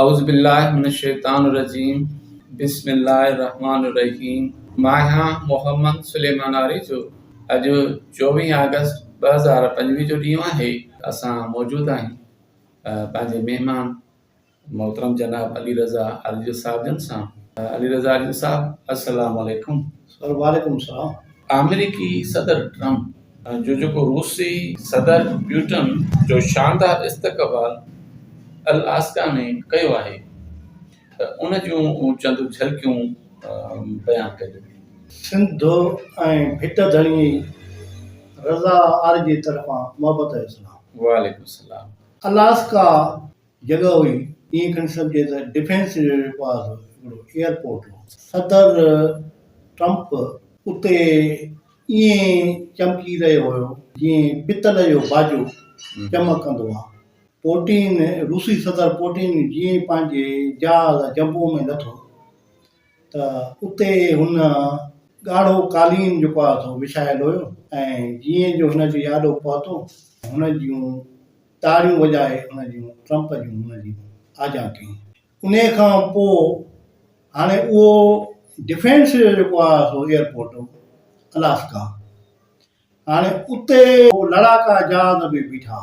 اعوذبالله من الشيطان الرجيم بسم الله الرحمٰن الرحيم ماهيان محمد سليمان آريجو اڄ چوويهه آگسٽ ٻه هزار پنجويهه جو ڏينهن آهي اسان موجود آهيون پنهنجي مهمان محترم جناب علي رضا آريجو صاحب جن سان علي رضا آريجو صاحب السلام عليڪم سر وعليڪم السلام آمريڪي صدر ٽرمپ جو جيڪو روسي صدر پيوٽن جو شاندار استقبال الاسڪا ۾ ڪيو آهي ته ان جون چند جهلڪيون بيان ڪجي. سنڌ ۽ ڀٽ ڌڻي رضا آريجي طرفان محبت ۽ سلام. وعليڪم السلام. الاسڪا جڳهه هئي، ائين کڻي سگهجي ته ڊفينس ريليٽيڊ واز هڪڙو ايئرپورٽ هو. صدر ٽرمپ اتي ائين چمڪي رهيو هيو جيئن پتل جو باجو چمڪندو آ. پوٽين، روسي صدر پوٽين جيئن پنهنجي جهاز جمبو ۾ لٿو ته اتي هن ڳاڙهو قالين جيڪو آ سو وڇايل هيو ۽ جيئن جو هن جي آڏو پهتو هن جون تاڙيون وڄائي ان جون ٽرمپ جون هن جي آجيان ڪيون. انهيء کان پوء هاڻي اهو ڊفينس جو جيڪو آهي سو ايئرپورٽ هو الاسڪا هاڻي اتي لڙاڪا جهاز به بيٺا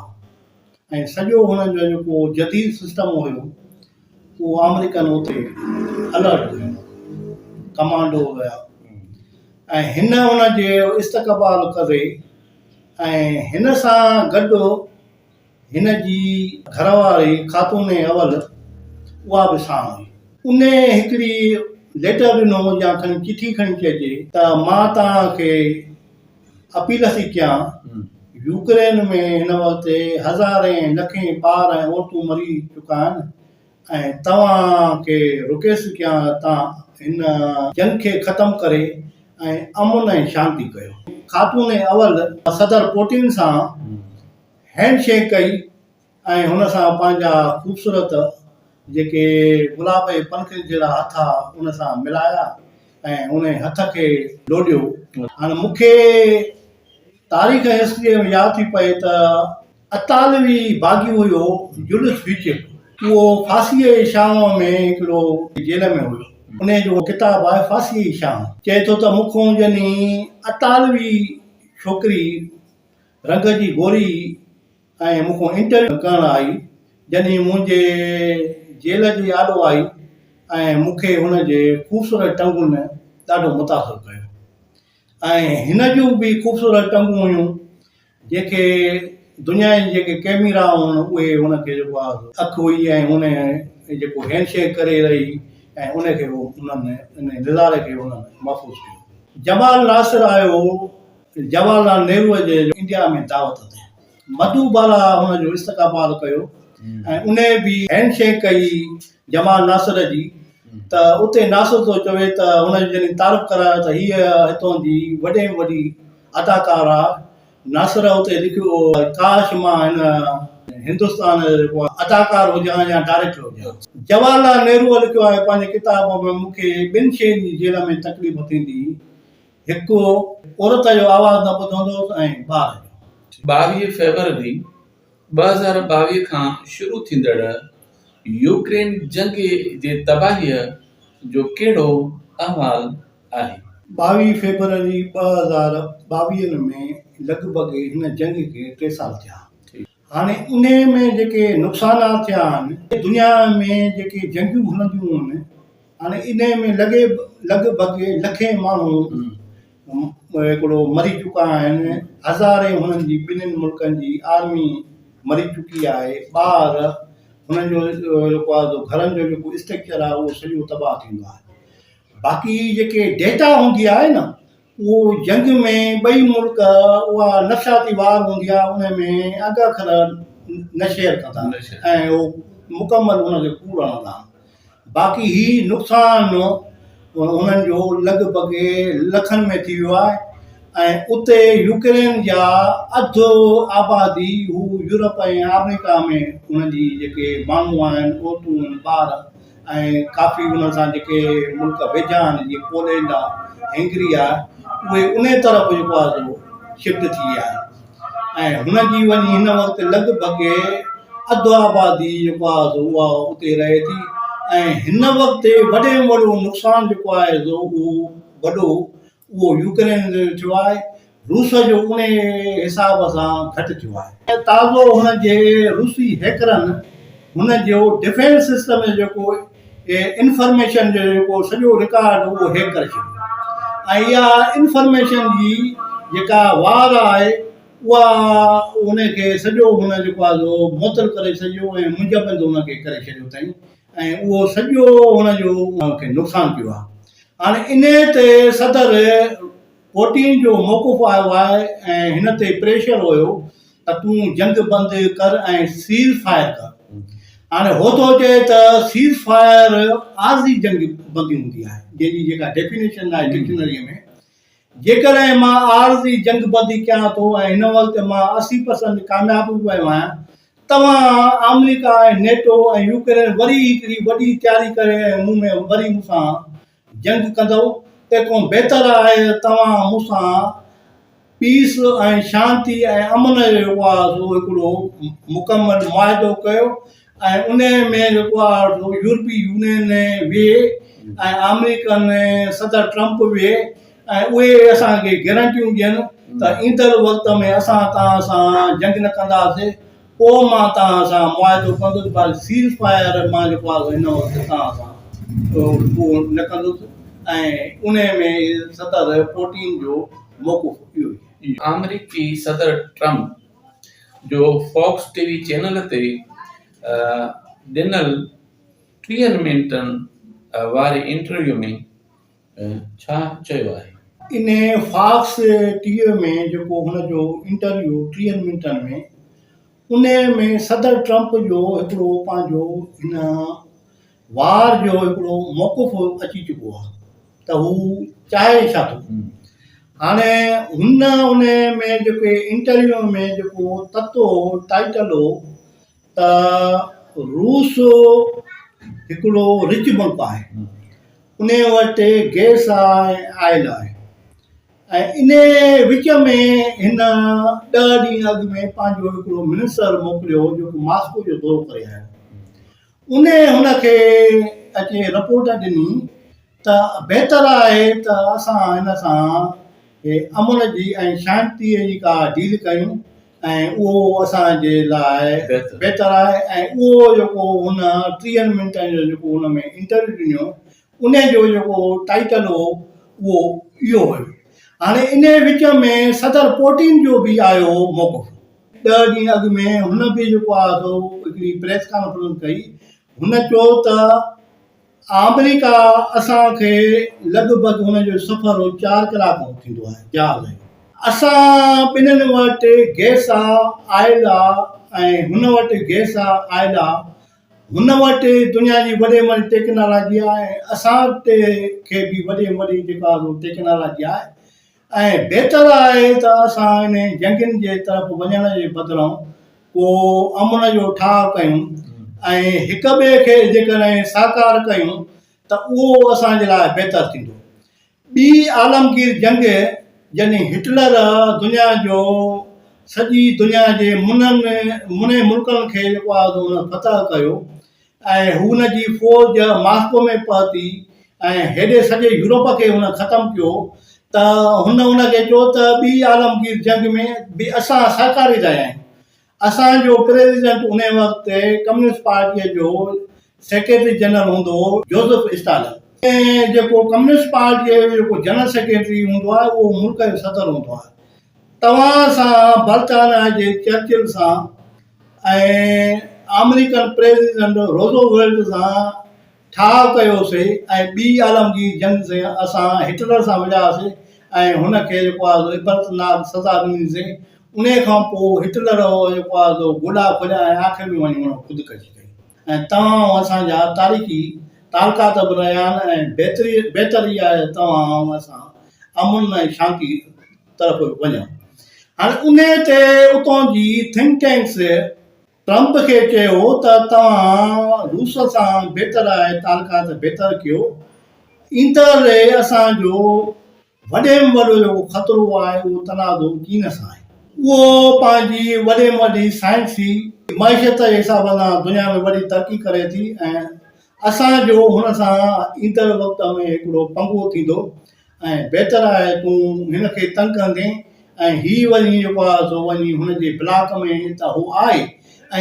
۽ سڄو هنن جو جيڪو جديد سسٽم هيو اهو آمريڪن اتي الرٽ هيون ڪمانڊو هيا ۽ هن ان جي استقبال ڪري ۽ هن سان گڏ هن جي گهر واري خاتون اول اها به ساڻ هئي. انهي هڪڙي ليٽر ڏنو يا کڻي چٺي کڻي چئجي ته مان توهان کي اپيل ٿي ڪيان يوڪرين ۾ هن وقت هزارين لکين ٻار ۽ عورتون مري چڪا آهن ۽ توهان کي رڪي سگهيان تان هن جنگ کي ختم ڪري ۽ امن ۽ شانتي ڪيو. خاتون اول صدر پوٽين سان هينڊ شيڪ ڪئي ۽ هن سان پنهنجا خوبصورت جيڪي گلاب جي پنکڙين جهڙا هٿ ها ان سان ملايا ۽ انهي هٿ کي لوڏيو هاڻ مون کي تاريخ ۽ هسٽريء ۾ ياد ٿي پئي ته اطالوي باغي هيو يونس بيڪر، اهو فاسيء جي شام ۾ هڪڙو جيل ۾ هيو، انهيء جو ڪتاب آهي فاسيء جي شام، چئي ٿو ته مون کان ڄڃي اطالوي ڇوڪري رنگ جي گوري ۽ مون کان انٽرويو ڪرڻ آئي، ڄڃي منهنجي جيل جي آڏو آئي ۽ مون کي هن جي خوبصورت ٽنگن ڏاڍو متاثر ڪيو. ۽ هن جون به خوبصورت ٽنگون هيون جنهن کي دنيا جي جيڪي ڪيميرا هئا اهي هن کي جيڪو آهي اک هئي ۽ هن جيڪو هينڊ شيڪ ڪري رهي هئي ۽ ان کي هو انهن ان نظاري کي هن محفوظ ڪيو. جمال ناصر آيو هو جواهر لال نهروء جي انڊيا ۾ دعوت تي. مڌو بالا ان جو استقبال ڪيو ۽ انهي به هينڊ شيڪ ڪئي جمال ناصر جي ته اتي ناصر ٿو چوي ته هن جو جڏهن تعارف ڪرايو ته هيء هتون جي وڏي ۾ وڏي اداڪار آ ناصر اتي لکيو ڪاش مان هن هندستان جو اداڪار هجان يا ڊائريڪٽر هجان جواهر لال نهروء لکيو آهي پنهنجي ڪتاب ۾ مون کي ٻن شين جي جيل ۾ تڪليف ٿيندي هڪ هو، عورت جو آواز نه ٻڌو هوندو هوس ۽ ٻار جو. ٻاويهه فيبروري ٻه هزار ٻاويهه کان شروع ٿيندڙ يوڪرين جنگ جي تباهيء جو ڪهڙو احوال آهي؟ ٻاويهه فيبروري ٻه هزار ٻاويهه ۾ لڳ ڀڳ هن جنگ کي ٽي سال ٿيا. هاڻي انهيء ۾ جيڪي نقصانات ٿيا آهن، دنيا ۾ جيڪي جنگيون هلنديون آهن، هاڻي انهيء ۾ لڳ لڳ ڀڳ لکين ماڻهو هڪڙو مري چڪا آهن، هزارين هنن جي ٻنهين ملڪن جي آرمي مري چڪي آهي، ٻار هنن جو جيڪو آهي سو گهرن جو جيڪو اسٽرڪچر آهي اهو سڄو تباهه ٿيندو آهي. باقي جيڪي ڊيٽا هوندي آهي نه اهو جنگ ۾ ٻئي ملڪ اها نفسياتي وار هوندي آهي ان ۾ انگ اکر نه شيئر ڪندا نه شيئر. ۽ اهو مڪمل ان کي ڪوڙ هڻندا آهن باقي هي نقصان هنن جو لڳ ڀڳ لکن ۾ ٿي ويو آهي ۽ اتي يوڪرين جا اڌ آبادي هو يورپ ۽ آمريڪا ۾ انهن جي جيڪي ماڻهو آهن عورتون آهن ٻار ۽ ڪافي انهن سان جيڪي ملڪ ويجها آهن جيئن پولينڊ آهي هينگري آهي اهي انهيء طرف جيڪو آهي سو شفٽ ٿي ويا آهن ۽ هن جي وڃي هن وقت لڳ ڀڳ اڌ آبادي جيڪو آهي سو اها اتي رهي ٿي ۽ هن وقت وڏي ۾ وڏو نقصان جيڪو آهي سو اهو وڏو اهو يوڪرين جو ٿيو آهي، روس جو انهي حساب سان گهٽ ٿيو آهي. تازو هن جي روسي هيڪرن هن جو ڊفينس سسٽم جو جيڪو انفارميشن جو جيڪو سڄو رڪارڊ هو اهو هيڪ ڪري ڇڏيو ۽ اها انفارميشن جي جيڪا وار آهي اها ان کي سڄو هن جيڪو آهي سو معطل ڪري سڄو ۽ منجمد ان کي ڪري ڇڏيو اٿئي ۽ اهو سڄو هن جو ان کي نقصان ٿيو آهي هاڻ انهيء تي صدر پوٽين جو موقف آيو آهي ۽ هن تي پريشر هيو ته تون جنگ بند ڪر ۽ سيز فائر ڪر. هاڻ هو ٿو چئي ته سيز فائر عارضي جنگ بندي هوندي آهي جنهن جي جيڪا ڊيفينيشن آهي ڊڪشنريء ۾ جيڪڏهن مان عارضي جنگبندي ڪيان ٿو ۽ هن وقت مان اسي پرسنٽ ڪامياب به ويو آهيان، توهان آمريڪا ۽ نيٽو ۽ يوڪرين وري هڪڙي وڏي تياري ڪري ۽ مون ۾ وري مون سان جنگ ڪندؤ، تنهنکون بهتر آهي ته توهان مون سان پيس ۽ شانتي ۽ امن جو جيڪو آهي سو هڪڙو مڪمل معاهدو ڪيو ۽ انهيء ۾ جيڪو آ يورپي يونين ويهي ۽ آمريڪن صدر ٽرمپ ويهي ۽ اهي اسان کي گيرنٽيون ڏين ته ايندڙ وقت ۾ اسان توهان سان جنگ نه ڪنداسين پوء مان توهان سان معاهدو ڪندس پر سيز فائر مان جيڪو آ هن وقت توهان سان اهو نه ڪندس ۽ انهيء ۾ صدر پوٽين جو موقف اهو ئي آهي. آمريڪي صدر ٽرمپ جو فاڪس ٽي وي چينل تي ڏنل ٽيهن منٽن واري انٽرويو ۾ ڇا چيو آهي؟ انهيء فاڪس ٽي وي ۾ جيڪو هن جو انٽرويو ٽيهن منٽن ۾ انهيء ۾ صدر ٽرمپ جو هڪڙو پنهنجو هن وار جو هڪڙو موقف اچي چڪو آهي ته هو چاهي ڇا ٿو. هاڻي هن ان ۾ جيڪي انٽرويو ۾ جيڪو تت هو ٽائيٽل هو ته روس هڪڙو رچ ملڪ آهي ان وٽ گيس آهي آئل آهي ۽ ان وچ ۾ هن ڏهه ڏينهن اڳ ۾ پنهنجو هڪڙو منسر موڪليو هو جيڪو ماسڪو جو دورو ڪري آيو انهيء هن کي اچي رپورٽ ڏني ته بهتر آهي ته اسان هن سان امن جي ۽ شانتيء جي ڪا ڊيل ڪيون ۽ اهو اسان جي لاء بهتر. بهتر آهي ۽ اهو جيڪو هن ٽيهن منٽن جو جيڪو هن ۾ انٽرويو ڏنو ان جو جيڪو ٽائيٽل هو اهو اهو هيو هاڻي انهيء وچ ۾ صدر پوٽين جو به آيو هو موقف ڏهه ڏينهن اڳ ۾ هن به جيڪو آهي سو هڪڙي پريس ڪانفرنس ڪئي. هن چيو ته آمريڪا اسان کي لڳ ڀڳ هن جو سفر هو چار ڪلاڪ هو ٿيندو آهي جهاز ۽ اسان ٻنهن وٽ گئس آ، آئل آ ۽ هن وٽ گئس آ، آئل آ. هن وٽ دنيا جي وڏي ۾ وڏي ٽيڪنالاجي آ ۽ اسان وٽ کي به وڏي ۾ وڏي جيڪا آهي سو ٽيڪنالاجي آهي. ۽ بهتر آهي ته اسان انهن جنگين جي طرف وڃڻ جي بدران ڪو امن جو ٺاهه ڪيون ۽ هڪ ٻئي کي جيڪڏهن ساڪار ڪيون ته اهو اسان جي لاء بهتر ٿيندو. ٻي عالمگير جنگ جڏهن هٽلر دنيا جو سڄي دنيا جي منهن منهن ملڪن کي جيڪو آهي ان فتح ڪيو ۽ هن جي فوج ماسڪو ۾ پهتي ۽ هيڏي سڄي يورپ کي هن ختم ڪيو ته هن ان کي چيو ته ٻي عالمگير جنگ ۾ به اسان سهڪاري رهيا آهيون. اسان جو پريزيڊنٽ انهي وقت ڪميونسٽ پارٽيء جو سيڪريٽري جنرل هوندو هو جوزف اسٽالن. ۽ جيڪو ڪميونسٽ پارٽيء جو جيڪو جنرل سيڪريٽري هوندو آهي اهو ملڪ جو صدر هوندو آهي. توهان سان برطانيا جي چرچل سان ۽ آمريڪن پريزيڊنٽ روزو ويلٽ سان ٺاهه ڪيو سي ۽ ٻي عالمگير جنگ سين اسان هٽلر سان وڙهيا سي ۽ هن کي جيڪو آهي سو عبرت ناڪ سزا ڏني سي انهي کان پوء هٽلر جيڪو آهي سو گوڏا کوليا ۽ آخر ۾ وڃي هن خودڪشي ڪئي. ۽ توهان ۽ اسان جا تاريخي تعلقات به رهيا آهن ۽ بهتري بهتر اها آهي ته توهان ۽ اسان امن ۽ شانتي طرف وڃون. هاڻي انهي تي اتان جي ٿنڪ ٽينڪس ٽرمپ کي چيو ته توهان روس سان بهتر آهي تعلقات بهتر ڪيو ايندڙ ري اسان جو وڏي ۾ وڏو جيڪو خطرو آهي اهو تنازعو چين سان آهي. اهو پنهنجي وڏي ۾ وڏي سائنسي معيشت جي حساب سان دنيا ۾ وڏي ترقي ڪري ٿي ۽ اسان جو هن سان ايندڙ وقت ۾ هڪڙو پنگو ٿيندو ۽ بهتر آهي تون هن کي تنگ ڪندين ۽ هي وڃي جيڪو آهي سو وڃي هن جي بلاڪ ۾ ته هو آهي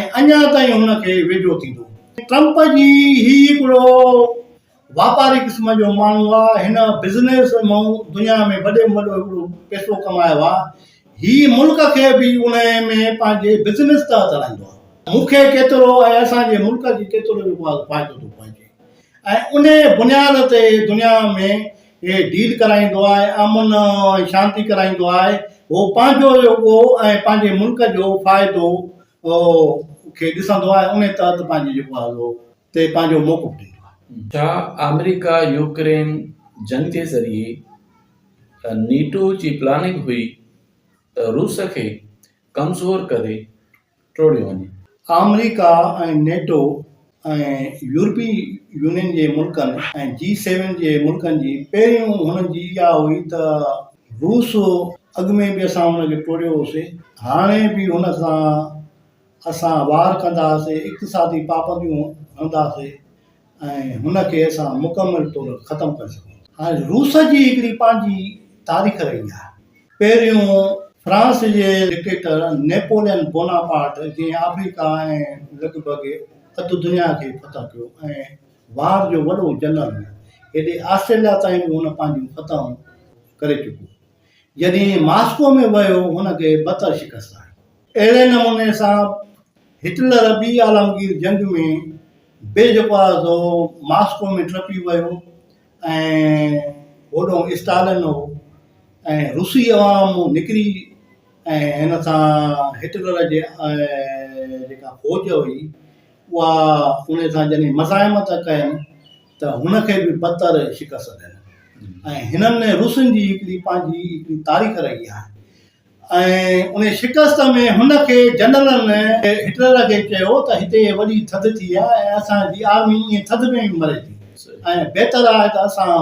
۽ اڃا تائين هن کي ويجهو ٿيندو. ٽرمپ جي هي هڪڙو واپاري قسم جو ماڻهو آ هن بزنس مئن دنيا ۾ وڏي ۾ وڏو هڪڙو پئسو ڪمايو آ هي ملڪ کي به انهي ۾ پنهنجي بزنس تحت هلائيندو آ مون کي ڪيترو ۽ اسان جي ملڪ کي ڪيترو جيڪو آ فائدو ٿو پهچي ۽ انهي بنياد تي دنيا ۾ هي ڊيل ڪرائيندو آ ۽ امن ۽ شانتي ڪرائيندو آ هو پنهنجو جيڪو ۽ پنهنجي ملڪ جو فائدو کي ڏسندو آ ۽ انهي تحت پنهنجي جيڪو آ تي پنهنجو موقف ڏيندو آهي. ڇا آمريڪا يوڪرين جنگ جي ذريعي نيٽو جي پلاننگ هئي ته روس کي ڪمزور ڪري ٽوڙيو وڃي. آمريڪا ۽ نيٽو ۽ يورپي يونين جي ملڪن ۽ جي سيون جي ملڪن جي پهريون هنن جي اها هئي ته روس اڳ ۾ به اسان هن کي ٽوڙيو هوسي هاڻي به هن سان اسان وار ڪنداسين، اقتصادي پابنديون هڻنداسين ۽ هن کي اسان مڪمل طور ختم ڪري سگهون ٿا. هاڻي روس جي هڪڙي پنهنجي تاريخ رهي آهي. پهريون فرانس جي ڊڪٽيٽر نيپولين بوناپارٽ جنهن آفريڪا ۽ لڳ ڀڳ اڌ دنيا کي فتح ڪيو ۽ وار جو وڏو جنرل هو. هيڏي آسٽريليا تائين به هن پنهنجون فتحون ڪري چڪو هو. جڏهن ماسڪو ۾ ويو هن کي بدتر شڪست آئي. اهڙي نموني سان هٽلر ٻي عالمگير جنگ ۾ به جيڪو آهي سو ماسڪو ۾ ٽپي ويو ۽ هوڏنهن اسٽالن هو ۽ روسي عوام نڪري ۽ هن سان هٽلر جي جيڪا فوج هئي اها ان سان جڏهن مزاحمت ڪين ته هن کي به بتر شڪست ڏني ۽ هنن ۾ روسين جي هڪڙي پنهنجي هڪڙي تاريخ رهي آهي ۽ ان شڪست ۾ هن کي جنرلن هٽلر کي چيو ته هتي وڏي ٿڌ ٿي آهي ۽ اسان جي آرمي ائين ٿڌ ۾ به مري ٿي ۽ بهتر آهي ته اسان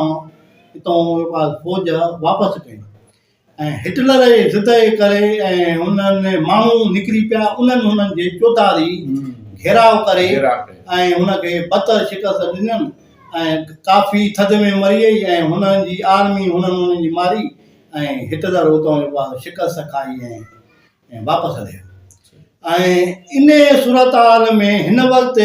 هتان فوج واپس ڪيون ۽ هٽلر جي ضد جي ڪري ۽ هن ماڻهو نڪري پيا انهن هنن جي چوڌاري گهيراء ڪري ۽ هن کي بدتر شڪست ڏنن ۽ ڪافي ٿڌ ۾ مري وئي ۽ هنن جي آرمي هنن هنن جي ماري ۽ هٽلر اتان جيڪو آهي شڪست کائي ۽ واپس هليو ۽ ان صورتحال ۾ هن وقت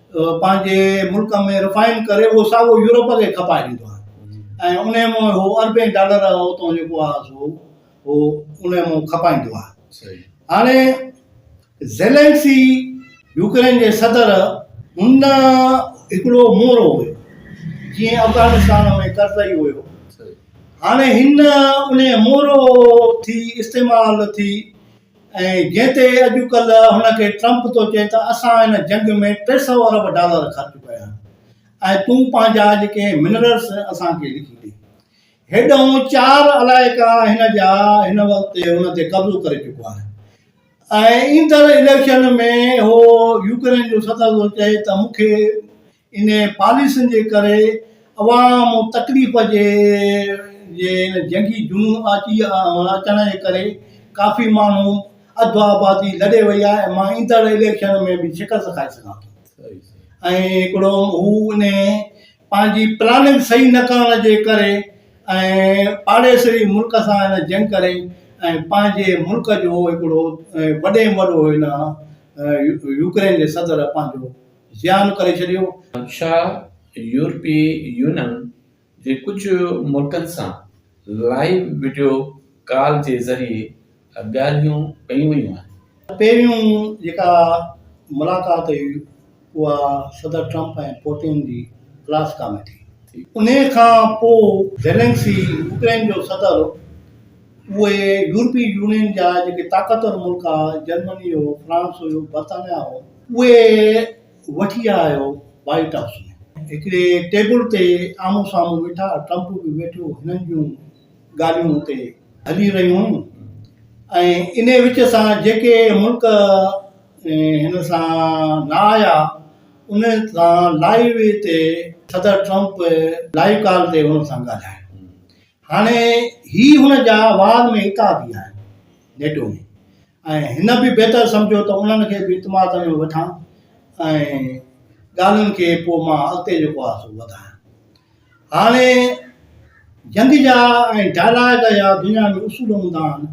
پنهنجي ملڪ ۾ رفائن ڪري اهو ساڳو يورپ کي کپائي ڏيندو آهي ۽ ان جي مون هو اربين ڊالر اتو جيڪو آهي سو هو ان جي مون کپائيندو آهي هاڻي زيلنسي يوڪرين جي صدر هن هڪڙو مورو هيو جيئن افغانستان ۾ ڪرزئي هيو هاڻي هن ان مورو ٿي استعمال ٿي ۽ جنهن تي اڄ ڪلهه هن کي ٽرمپ ٿو چئي ته اسان هن جنگ ۾ ٽي سؤ ارب ڊالر خرچ ڪيا آهن ۽ تون پنهنجا جيڪي منرلس اسان کي لکي ڏي هيڏانهن چار علائقا هن جا هن وقت هن تي قبضو ڪري چڪو آهي ۽ ايندڙ اليڪشن ۾ هو يوڪرين جو صدر ٿو چئي ته مون کي انهيء پاليسين جي ڪري عوام تڪليف جي جي ان جنگي جنون اچي اچڻ جي ڪري ڪافي ماڻهو اڌ آبادي لڏي وئي آهي ۽ مان ايندڙ اليڪشن ۾ به شڪست کائي سگهان ٿو ۽ هڪڙو هو ان پنهنجي پلاننگ صحيح نه ڪرڻ جي ڪري ۽ پاڙيسري ملڪ سان هن جنگ ڪري ۽ پنهنجي ملڪ جو هڪڙو وڏي ۾ وڏو هن يوڪرين جي صدر پنهنجو زيان ڪري ڇڏيو. شاهه يورپي يونين جي ڪجهه ملڪن سان لائيو وڊيو ڪال جي ذريعي ڳالهيون ڪيون ويون آهن. پهريون جيڪا ملاقات هئي اها صدر ٽرمپ ۽ پوتين جي الاسڪا ۾ ٿي. انهي کان پوء زيلنسڪي يوڪرين جو صدر اهي يورپي يونين جا جيڪي طاقتور ملڪ آهي جرمني هو، فرانس هيو، برطانيا هو، اهي وٺي آيو وائيٽ هائوس ۾. هڪڙي ٽيبل تي آمهون سامهون ويٺا، ٽرمپ به ويٺو، هنن جون ڳالهيون اتي هلي رهيون هيون ۽ انهي وچ سان جيڪي ملڪ هن سان نه آيا انهن سان لائيو تي صدر ٽرمپ لائيو ڪال تي انهن سان ڳالهايو. هاڻي هي هن جا واز ۾ هڪ آدي آهن نيٽو ۾ ۽ هن به بهتر سمجهيو ته انهن کي به اعتماد ۾ وٺان ۽ ڳالهين کي پوء مان اڳتي جيڪو آهي سو وڌايان هاڻي جنگ جا ۽ ڊائلاگ جا دنيا ۾ اصول هوندا آهن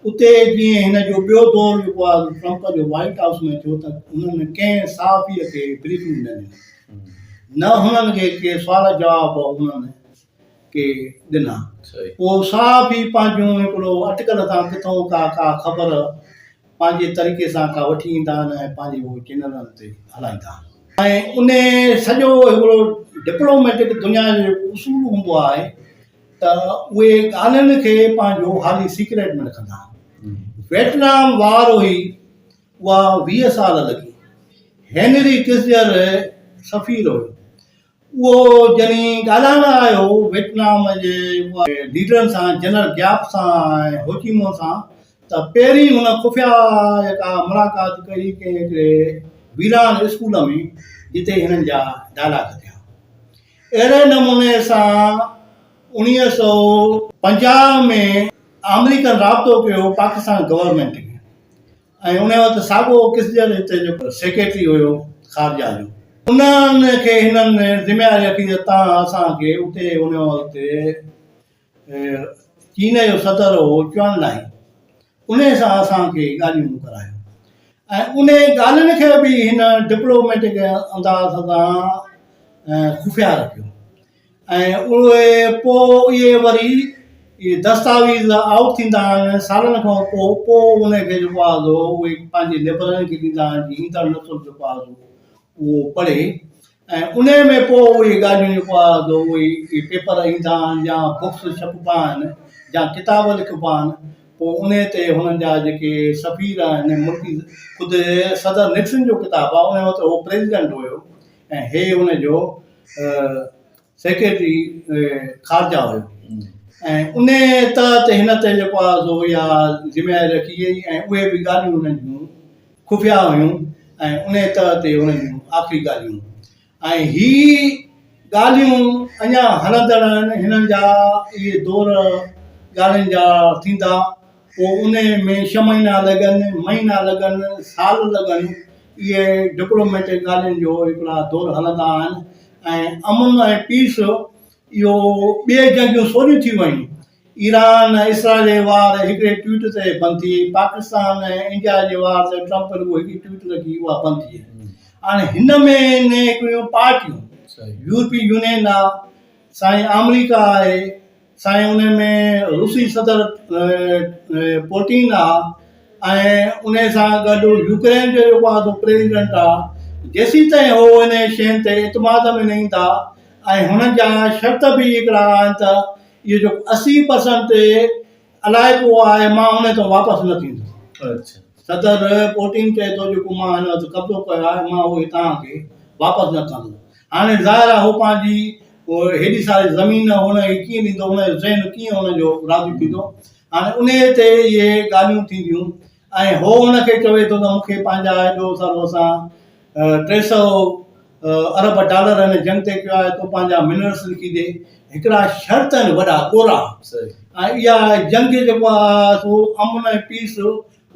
اتي جيئن هن جو ٻيو دور جيڪو آهي ٽرمپ جو وائيٽ هائوس ۾ ٿيو ته هنن ڪنهن صحافي کي بريفنگ نه ڏني نه هنن کي ڪي سوال جواب هنن کي ڏنا. اهو ساهه به پنهنجون هڪڙو اٽڪل تان ڪٿئون ڪا ڪا خبر پنهنجي طريقي سان ڪا وٺي ايندا آهن ۽ پنهنجي اهو چينلن تي هلائيندا آهن. ۽ انهي سڄو هڪڙو ڊپلوميٽڪ دنيا جو جيڪو اصول هوندو آهي ته اهي ڳالهين کي پنهنجو حالي سيڪريٽ ۾ رکندا آهن. ويٽنام وار هئي اها ويهه سال لڳي. هينري ڪسجر سفير هيو. اهو جني ڳالهائڻ آيو هو ويٽنام جي ليڊرن سان جنرل گياپ سان ۽ هوچي مون سان ته پهرين هن خفيا جيڪا ملاقات ڪئي ڪنهن هڪڙي ويران اسڪول ۾ جتي هنن جا ڊائلاگ ٿيا اهڙي نموني سان اڻيهه سو پنجاهه ۾ آمريڪن رابطو ڪيو پاڪستان گورنمينٽ ۾ ۽ ان وقت ساڳو ڪسجر هتي جو سيڪريٽري هيو خارجه جو. انهن کي هنن ذميواري رکي ته تان اسان کي اتي ان وقت چين جو صدر هو چوان لائي ان سان اسان کي ڳالهيون ڪرايو ۽ ان ڳالهين کي به هن ڊپلوميٽڪ انداز سان خفيا رکيو. ۽ اهي پوء اهي وري اهي دستاويز آئوٽ ٿيندا آهن سالن کان پوء پوء ان کي جيڪو آهي سو اهي پنهنجي ليبررن کي ڏيندا آهن جي ايندڙ نسل جيڪو آهي سو اهو پڙهي ۽ ان ۾ پوء اهي ڳالهيون جيڪو آهي سو اهي اهي پيپر ايندا آهن يا بڪس ڇپبا آهن يا ڪتاب لکبا آهن پوء ان تي هنن جا جيڪي سفير آهن ملڪي خود صدر نڪسن جو ڪتاب آهي ان وقت هو پريزيڊنٽ هيو ۽ هي ان جو سيڪريٽري خارجه هيو ۽ انهيء تحت هن تي جيڪو آهي سو اها ذميواري رکي وئي ۽ اهي به ڳالهيون انهن جون خفيا هيون ۽ انهيء تحت تي انهن جون آخري ڳالهيون ۽ هي ڳالهيون اڃا هلندڙ آهن هنن جا اهي دور ڳالهين جا ٿيندا پوء انهيء ۾ ڇهه مهينا لڳن، مهينا لڳن، سال لڳن، اهي ڊپلوميٽڪ ڳالهين جو هڪڙا دور هلندا آهن ۽ امن ۽ پيس اهو ٻئي جنگيون سوريون ٿي ويون، ايران ۽ اسرائيل جي وار هڪڙي ٽوئيٽ تي بند ٿي، پاڪستان ۽ انڊيا جي وار تي ٽرمپ رڳو هڪڙي ٽوئيٽ لکي اها بند ٿي وئي. هاڻي هن ۾ ني هڪڙيون پارٽيون يورپي يونين آهي، سائين آمريڪا آهي، سائين انهي ۾ روسي صدر پوٽين آ ۽ انهي سان گڏ يوڪرين جو جيڪو آ سو پريزيڊنٽ آ جيسين تائين هو انهي شين تي اعتماد ۾ نه ايندا ۽ هنن جا شرط به هڪڙا آهن ته اهي جو اسي پرسنٽ علائقو آ مان انهي تان واپس نه ٿيندس صدر پوٽين چئي ٿو جيڪو مان هن تي قبضو ڪيو آ مان اهي توهان کي واپس نه ڪندس هاڻي ظاهر آهي هو پنهنجي هيڏي ساري زمين هن کي ڪيئن ڏيندو، هن جو ذهن ڪيئن هن جو راضي ٿيندو. هاڻي انهيء تي اهي ڳالهيون ٿينديون ۽ هو هن کي چوي ٿو ته مون کي پنهنجا ايڏو سارو اسان ٽي سؤ ارب ڊالر هن جنگ تي ڪيو آهي، تون پنهنجا منرلس لکي ڏي. هڪڙا شرط آهن وڏا ڳورا ۽ اها جنگ جيڪو آهي سو امن ۽ پيس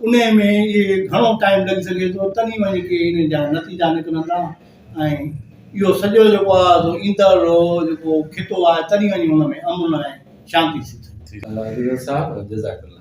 انهيء ۾ اهي گهڻو ٽائيم لڳي سگهي ٿو، تڏهن وڃي ڪي انهن جا نتيجا نڪرندا ۽ اهو سڄو جيڪو آهي سو ايندڙ رو جيڪو خطو آهي تڏهن وڃي ان ۾ امن ۽ شانتي سٿ ٿيندي. الله حفيظ صاحب جزاڪ الله.